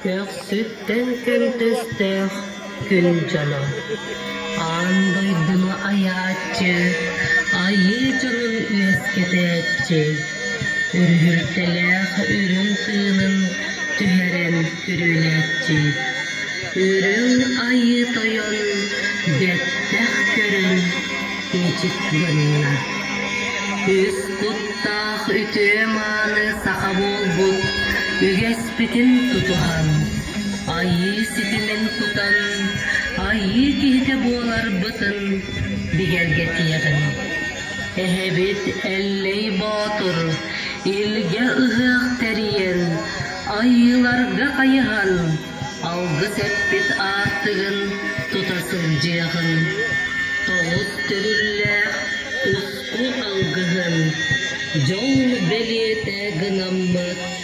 Көхсүттэн көнтөстөөх күн дьоно аан дойдуну айааччы, айыы дьонун үөскэтээччи, үрүһүлтэлээх үрүҥ тыынын түһэрэн күрүөлээччи, үрүҥ айыы тойон бэттэх көрөн киэчик туганна. Үс куттаах үтүө мааны саха буолбут үгэс Эппитин тутуһан, Айыы ситимин тутан, Айыы киһитэ буоларбытын бигэргэтиэҕиҥ. Эһэбит Эллэй Боотур илгэ ыһыах тэрийэн, Айыыларга хайыһан, алгыс эппит аартыгын тута сылдьыаҕыҥ. Тоҕус төрүллээх уску алгыһын дьол бэлиэтэ гынаммыт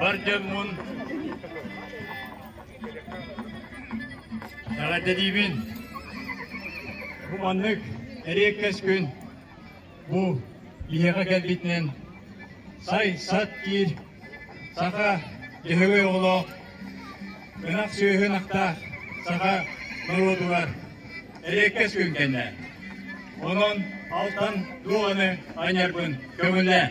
Бар дьоммун Саҕата диибин Бу маннык эриэккэс күн бу иһэҕэ кэлбитинэн сай сат киир Саха дьөһөгөй оҕолоох, ынах сүөһүн ахтаах саха норуотугар эриэккэс күн кэннэ. Онон алтан дуоҕаны аньарбын көҥүллээн.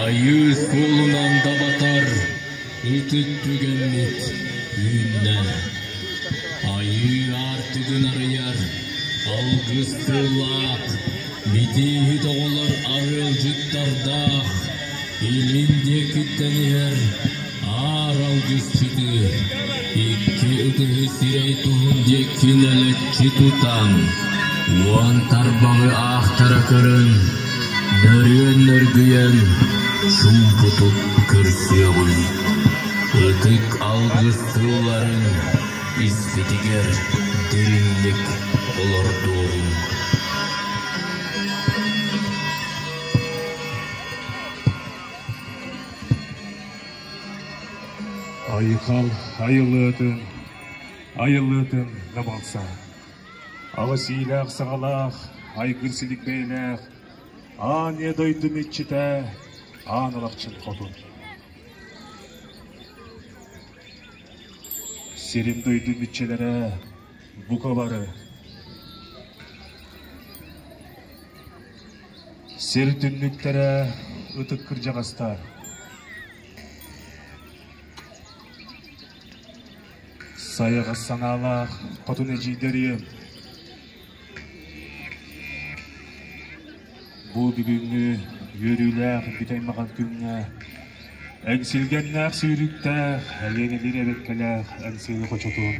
Айыы куолунан дабатар ытык түгэммит үүннэ. Айыы аартыгын арыйар алгыстыылаах битииһит оҕолор арыалдьыттардаах илин диэкиттэн иһэр Аар алгыспыты, икки ытыһы сирэй туһун диэки нэлэччи тутан, уон тарбаҕы аахтара көрөн, дөрүөн нөргүйэн, чуумпутук көрсүөҕүн. Ытык алгысты ыларын испитигэр дириҥник олордуоҕуҥ. Айхал айылыатын, айылыытын да балса, аҕыс иилээх-саҕалаах, айгыр силик бэйэлээх аан ийэ дойдуну иччитэ, аан алахчын хотун. Сирин-дойдун иччилэрэ, бука бары, Сир түннүктэрэ ытык кырдьаҕастар. Сайаҕас санаалаах хотун эдьиийдэр ийэм. Бу бүгүҥҥү үөрүүлээх бүтэй-махан күҥҥэ эҥсилгэннээх сүүрүктээх, элиэнэлиир эбэккэлээх эҥсили хочотуур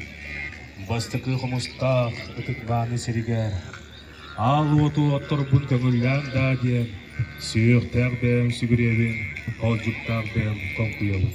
бастакы хомустаах ытык мааны сиригэр аал уоту отторбут көҥүллээн даа диэн сүһүөхтээх бэйэм сүгүрүйэбин, холдьуктаах бэйэм хоҥкуйабын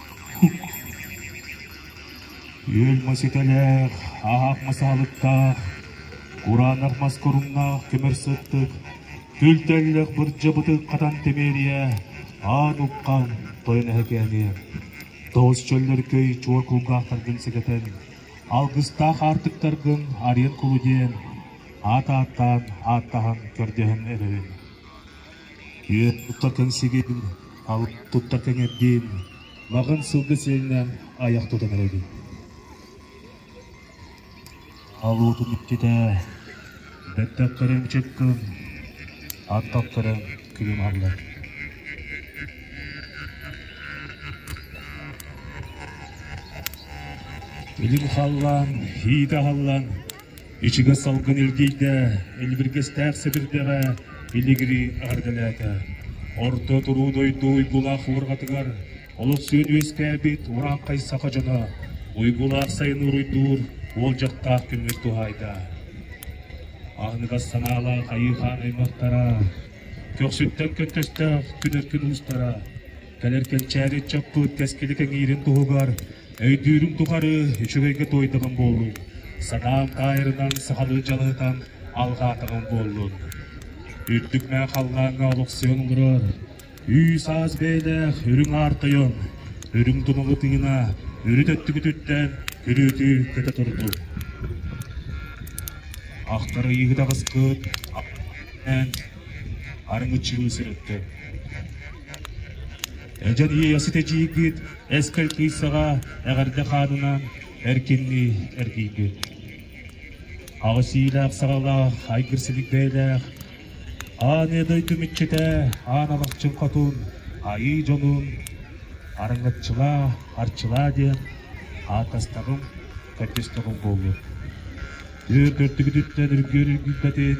Үөл маситэлээх, ааһаах мас аһалыктаах, кураанах мас куруннаах тимир сыттык, түлтэллэх бырдьыбытык хатан тимириэ, аан уккаан тойон эһэкээниэ. Тоҕус чөллөркөй чуор кулгаахтаргын сэгэтэн, алгыстаах аартыктаргын арыйан кулу диэн, аат ааттаан ааттаһан көрдөһөн эрэрин. Үөт туттартан сигил, алып туттартан эрдиин, маҕан сылгы сиэнинээн айах тутан эрэбин Алуутун иччитэ, бэттэхтэрин чыккын, аттаттарын күлүм аһаллар. Илим халлаан, иitä халлаан, Ичигэс салгын илгийдэ, илбиргэстээх сэбирдэҕэ илигири аһаргылээтэ. Орто туруу дойду уйгулаах уорҕатыгар олус сүөд үөскээбит урааххай саха дьоно уйгулаах сайын уруйдуур уолдьаттаах күммүт туһаайда. Аһыныгас санаалаах айыы хаан аймахтара, көхсүттэн көттөстөөх күнөккүн уустара, Кэлэр кэнчээри ыччаппыт кэскили кэҥиирин туһугар өйдүүрүҥ тухары үчүгэйгэ туойдаҕын буолуҥ, санаан таайарынан сахалыы дьаныытан алҕаатаҕын буоллун. Үрдүк мэ халлааҥҥа олохсуйан олорор үс-аас бэйэлээх үрүҥ аар тойон, үрүҥ тумулу тыына үрүт өттүгүтүттэн күлүүтү көтө турдун. Ахтар ыйыһыт аҕыскыт арыҥыччылыы сырытты. Эдьэн Иэйэсит эдьиийгит Эскэл Кыйсаҕа эҕэрдэ хаанынан эркиннии эргийбит. Аҕыс иилээх-саҕалаах, айгыр силик бэйэлээх, аан ийэ дойду мүччүтэ, аан алахчын хотун, айыы дьонун арыҥаччылаа, арчылаа диэн ааттастаҕым, көрдөстөҕүм буолуо. Түөр көрдүгүтүттэн үргүөр үргүйбэтин,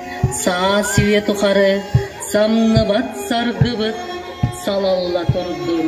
Саа сиэ тухары самныбат саргыбыт салалла турдун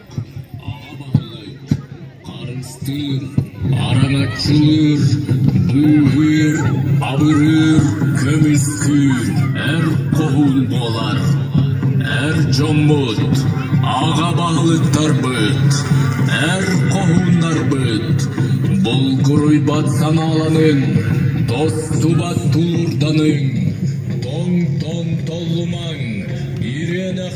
Аҕабаһылык харыстыыр, араҥаччылыыр, быыһыыр, абырыыр, көмүскүүр эр хоһуун буолар, эр дьоммут, аҕабаһылыктарбыт, эр хоһууннарбыт булгуруйбат санааланын, тостубат тулуурданыҥ, тоҥ-тон толлумаҥ, ириэнэх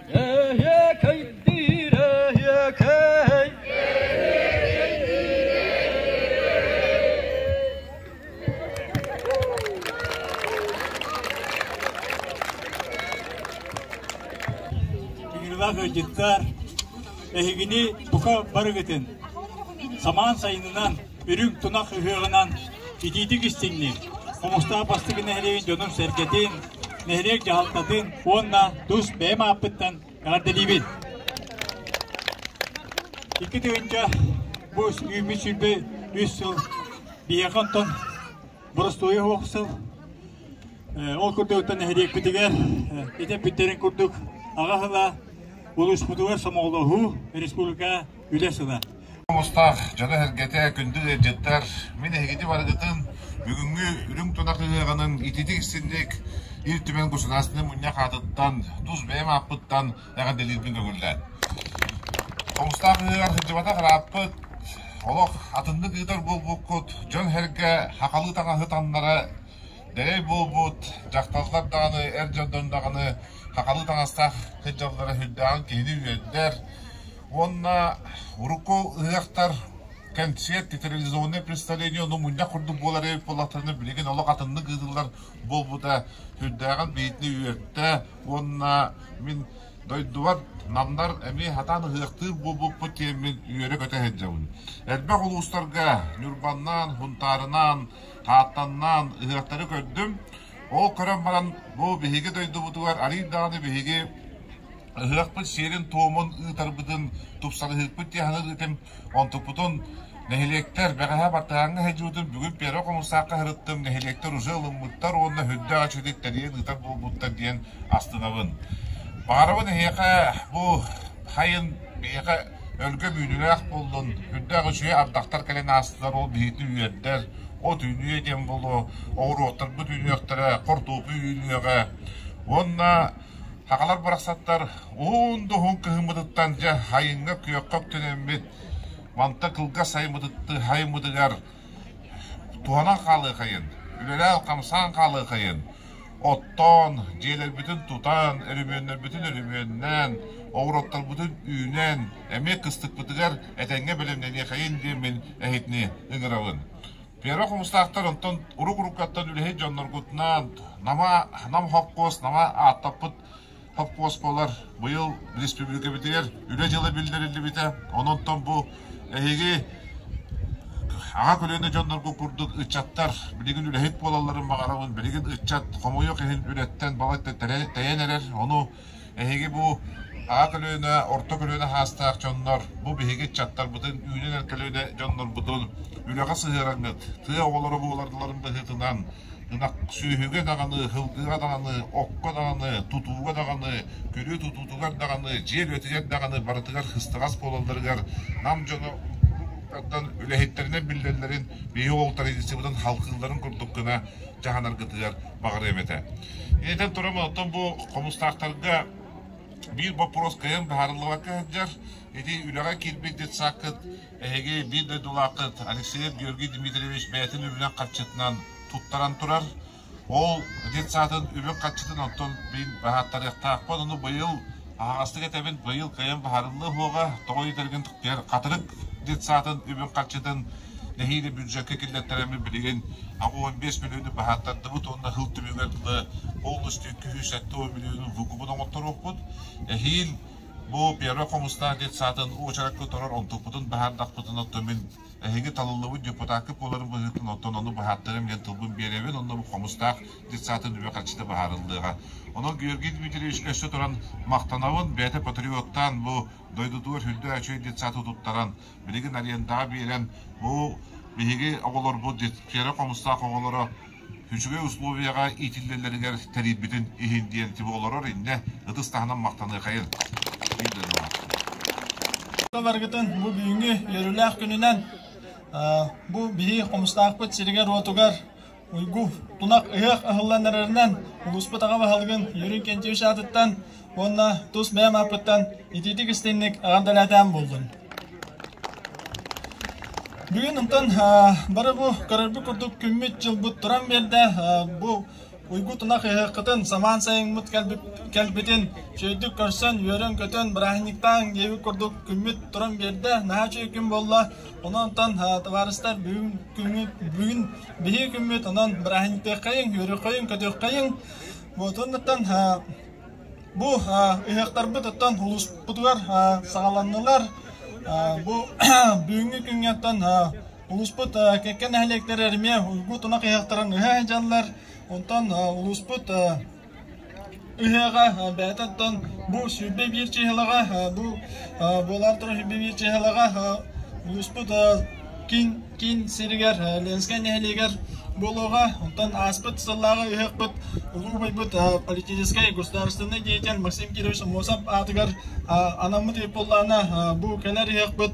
Тыгырылах ыйдьыттар, эһигини бука барыгытын самаан сайынынан Үрүҥ тунах ыһыаҕынан итиитик истиҥниир Хомустаах бастакы нэһилиэгин дьонун-сэргэтин, нэһилиэк дьаһалтатын уонна тус бэйэм ааппыттан эҕэрдэлиибин! Икки тыһыынча бу үүммүт сүүрбэ үс сыл биһиэхэ онтон боростуойа суох сыл. Ол курдуктан нэһилиэкпитигэр ити эппиттэрин курдук аҕа сыла улууспутугар сомоҕолоһуу, республика Үлэ-сыла мустаах дьоно-сэргэтэ, күндү ыалдьыттар, мин эһигити барыгытын бүгүҥҥү үрүҥ тунах ыһыаҕынан ититик-истинник Ил Түмэн государственнай мунньах аатыттан, тус бэйэм ааппыттан эҕэрдэлиирбин көҥүллээн. Хомустаах ыһыаҕар сылдьыбатах ырааппыт, олох атыннык ыытар буолбуккут, дьон-сэргэ хахалыы таҥаһы таҥнара дэрэй буолбут, дьахталлар даҕаны, эр дьон даҕаны хахалыы таҥастаах сылдьаллара сүрдээҕин киһини үөрдэр, уонна урукку ыһыахтар кэнсиэр театрализованное представление ону мунньах курдук буолар эбит буоллахтарына билигин олох атыннык ыытыллар буолбута сүрдээҕин бэйэтини үөртэ уонна мин дойдубар намнар эмиэ хатаан ыһыахтыыр буолбуппут киэммин үөрэ-көтө сылдьабын элбэх улуустарга ньурбаннаан хунтаарынаан хааттаннаан ыһыахтары көрдүм ол көрөн баран бу биһиги дойдубутугар арыый даҕаны биһиги Ыһыахпыт сиэрин-туомун ыытарбытын, тупсарыһыыкпыт дьаһанын ыытым, онтукпутун нэһилиэктэр бэҕэһээ бартыһааҥҥа сылдьыбытын бүгүн Первый хомусаакка сырыттым, нэһилиэктэр уже ылыммыттар уонна үрдээх эчэйдик тэрийэн ыытар буолбуттар диэн астынабын. Баарыбын эһиэхэ бу хайын биһиэхэ өлгөм үүнүүлээх буоллун, үрдээх үчүгэй ардахтар кэлэн аастылар, ол биһиги үөрдэр, от үүнүө диэн буолуо, оҕуруоттарбыт үүнүөхтэрэ, хортуоппуй үүнүөҕэ, уонна Сахалар барахсаттар уһун да уһун кыһыммытыттан дьэ айыҥҥа күөххэ үктэнэммит мантан кылгас айыммытыгар туһанан хаалыахайын, үлэлээн-хамсаан хаалыахайын, оттоон, дьиэлэрбитин тутан, өрөмүөннэрбитин өрөмүөннээн, обороттарбытын үүнэн, эмиэ кыстыкпытыгар этэҥҥэ бэлэмнэниэхэйин диэммин эһитини ыҥырабын. Первый хомустаахтар онтон урук-уруккаттан үлэһит дьонноргутунаан Нама, Нам хоппуос, Нама ааттаппыт хоппуос буолар. Быйыл республикабытыгар үлэ дьыла биллэриллибитэ. Онон бу эһиги аҕа көлүөнэ дьонноргут курдук ыччаттар билигин үлэһит буолалларын баҕарабын. Билигин ыччат хомойуох иһин үлэттэн балачча тэйэн эрэр. Ону Эһиги бу аҕа көлүөнэ, орто көлүөнэ саастаах дьоннор, бу биһиги ыччаттарбытын, үүнэн-эргэн көлүөнэ дьоннорбутун үлэҕэ сыһыараҥҥыт, тыа оҕолоро буоларыларын быһыытынан, ынах сүөһүгэ даҕаны, сылгыга даҕаны, окко даҕаны, тутууга даҕаны, көрүү тутуутугар даҕаны, дьиэ үлэтигэр даҕаны барытыгар кыстаҕас буолалларыгар Нам дьоно уолаттардан үлэһиттэринэн биллэллэрин биһиги уолтарбытын халкылларын курдук гына дьаһанаргытыгар баҕарыам этэ. Итинэн туран оттон бу хомустаахтарга биир боппуруос кыайан быһаарыллыбакка сылдьар. Ити үлэҕэ киирбит детсаккыт, эһиги биир дойдулааххыт Алексеев Георгий Дмитриевич бэйэтин үлүнэн харчытынан туттаран турар. Ол детсаатын үлэ харчытын онтон мин баһааттарыахтаахпын. Ону быйыл Аһаҕастык этэбин, быйыл кыайан быһаарыллыа уһуоҕа, тоҕо диэтэргин тухтыйар Хатырык детсаатын үбүн харчытын нэһиилэ бюджекка киллэртэрэммин билигин аҕа уон биэс миллиону баһааттардыбыт уонна Ил түмүгэр дылы полностью үккү сүүс сэттэ уон миллиону ВУКУбун оҥотторуохпут. Эһиил бу первый хомустаах детсаатын уочаракка турар онтукпутун баһаардахпытын оттон мин эһиги талыллыбыт депутакка буоларын быһыытын оттон ону баһааттарым диэн тылбын биэрэбин онно бу хомустаах детсаатын үбэ харчыта быһаарыллыаҕа. Онон Георгий Дмитриевич өссө туран махтанабын, бэйэтэ патриоттаан бу дойдутугар үрдэ үчүгэй детсааты туттаран, билигин арендаҕа биэрэн, бу биһиги оҕолорбут, кэрэ хомустаах оҕолоро үчүгэй условияҕа иитиллэллэригэр тэрийбитин иһин диэн тип олорор иннэ ытыс таһынан махтаныахайын дииллэрин улаатта. Барыгытын бу бүгүҥҥү үөрүүлээх күнүнэн бу биһиги хомустаахпыт сиригэр-уотугар Уйгу тунах ыһыах ыһыллан эрэринэн, улууспут аҕа баһылыгын Юрий Кентьевич аатыттан уонна тус бэйэм ааппыттан итиитик истинник аҕам дэлээтээн буоллун. Бүгүн онтон бары бу көрөрбүт курдук күммүт-дьылбыт туран биэрдэ. Бу Уйгу тунах ыһыаххытын самаан сайыҥмыт кэлбитин чөйдүк көрсөн, үөрэн-көтөн, бырааһынньыктааҥ диэбит курдук күммүт туран биэрдэ. Наһаа үчүгэй күн буолла. Онон товарыстар бүгүн күммүт бүгүн биһиги күммүт онон бырааһынньыктыаххайыҥ, үөрүөххэйиҥ-көтүөххэйиҥ. Буотуннуттан бу ыһыахтарбыт оттон улууспутугар саҕаланнылар. Бу бүгүҥҥү күҥҥэттэн улууспут кэккэ нэһилиэктэр эмиэ уйгу тунах ыһыахтарын ыһа сылдьаллар. Онтон улууспут Ыһыаҕа бэйэтэ оттон бу сүүрбэ биир чыыһылаҕа бу буолаары турар сүүрбэ биир чыыһылаҕа улууспут киин киин сиригэр Ленскэй нэһилиэгэр буолуоҕа. Оттон ааспыт сыллааҕы ыһыахпыт улуу убайбыт политическай государственнай деятель Максим Кирович Аммосов аатыгар анаммыт ыйыппыллаана бу кэлэр ыһыахпыт